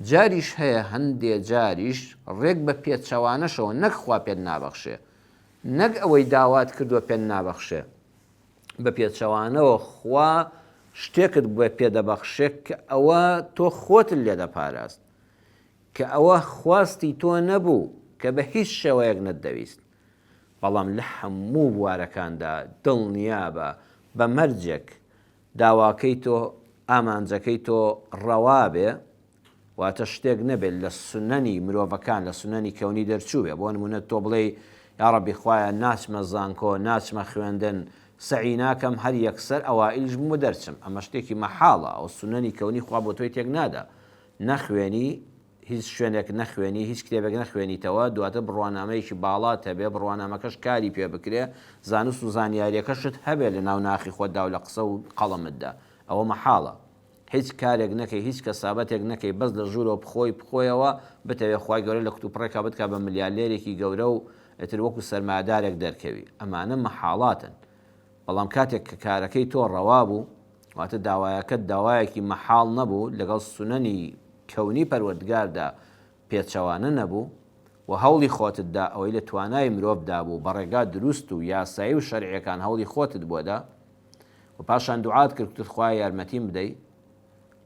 جاریش هەیە هەندێ جاریش ڕێک بە پێچەوانەشەوە نەک خوا پێت نابەخشێ نەک ئەوەی داوات کردوە پێت نابەخشێ بە پێچەوانەوە خوا شتێکت بۆ پێ دەبەخشێ کە ئەوە تۆ خۆتت لێ دەپاراست کە ئەوە خواستی تۆ نەبوو کە بە هیچ شێوەیەک نەتدەویست بەڵام لە هەموو بوارەکاندا دڵنیابە بە مەرجێک داواکەی تۆ، ئامانجەکەی تۆ، ڕەوا بێ، واتە شتێک نەبێت لە سنەنی مرۆڤەکان، لە سنەنی کەونی دەرچووبێ، بۆ نموونە تۆ بڵێی، یا ڕەبی خوایە ناچمە زانکۆ، ناچمە خوێندن، سەعی ناکەم، هەر یەکسەر ئەوائیلیش بم و دەرچم، ئەمە شتێکی مەحاڵە، ئەو سنەنی کەونی خوا بۆ تۆی تێک نادا، نەخوێنی، هیچ شوێنێک نەخوێنی هیچ کتێبێک نەخوێنیتەوە دواتر بڕوانامەیەکی باڵات هەبێ بڕوانامەکەش کاری پێ بکرێ زانست و زانیاریەکەشت هەبێ لە ناو ناخی خۆتدا و لە قسە و قەڵەمتدا ئەوە مەحاڵە هیچ کارێک نەکەی هیچ کەسابەتێک نەکەی بەس لە ژوورەوە بخۆی بخۆیەوە بتەوێ خوای گەورە لە کوتوپڕێکا بتکا بە ملیالێرێکی گەورە و ئیتر وەکو سەرمایەدارێک دەرکەوی ئەمانە مەحاڵاتن بەڵام کاتێک کە کارەکەی تۆ ڕەوا بوو، واتە داوایەکەت داوایەکی مەحاڵ نەبوو، لەگەڵ سونەنی کەونی پەروەردگاردا پێچەوانە نەبوو، وە هەوڵی خۆتت دا، ئەوەی لە توانای مرۆڤ دا بوو، بە ڕێگا دروست و یاسایی و شەرعیەکان هەوڵی خۆتت بۆ دا، وە پاشان دوعات کرد گوتت خوایە یارمەتیم بدەی،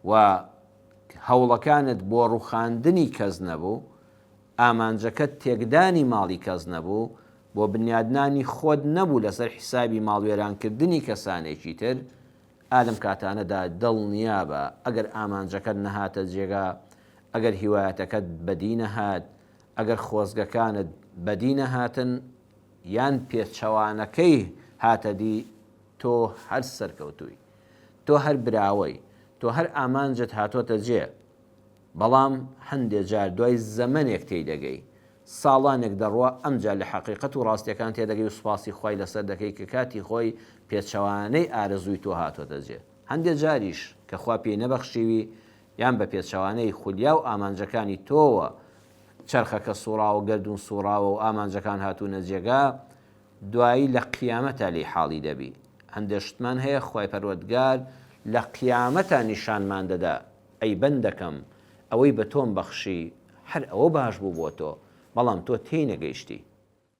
وە هەوڵەکانت بۆ ڕوخاندنی کەس نەبوو، ئامانجەکەت تێکدانی ماڵی کەس نەبوو، بۆ بنیادنانی خۆت نەبوو لەسەر حیسابی ماڵوێرانکردنی کەسانێکی تر، ئا لەم کاتانەدا دڵنیابە ئەگەر ئامانجەکەت نەهاتە جێگا، ئەگەر هیوایەتەکەت بەدی نەهات، ئەگەر خۆزگەکانت بەدی نەهاتن یان پێچەوانەکەی هاتەدی، تۆ هەر سەرکەوتووی. تۆ هەر براوەی. تۆ هەر ئامانجت هاتۆتە جێ. بەڵام هەندێ جار دوای زەمەنێک تێیدەگەی ساڵانێک دەڕوا ئەمجا لە حەقیقەت و ڕاستیەکان تێدەگەی و سوپاسی خوای لەسەر دەکەی کە کاتی خۆی پێچەوانەی ئارەزووی تۆ هاتۆتە جێ هەندێ جاریش کە خوا پێی نەبەخشیوی یان بە پێچەوانەی خولیا و ئامانجەکانی تۆوە چەرخەکە سوڕاوە گەردوون سوڕاوە و ئامانجەکان هاتوونە جێگا دوایی لە قیامەتا لێی حاڵی دەبی هەندێ شتمان هەیە خوای پەروەردگار لە قیامەتا نیشانمان دەدا ئەی بەندەکەم، ئەوەی بە تۆم بەخشی، هەر ئەوە باش بوو بۆ تۆ، بەڵام تۆ تێی نەگەیشتی.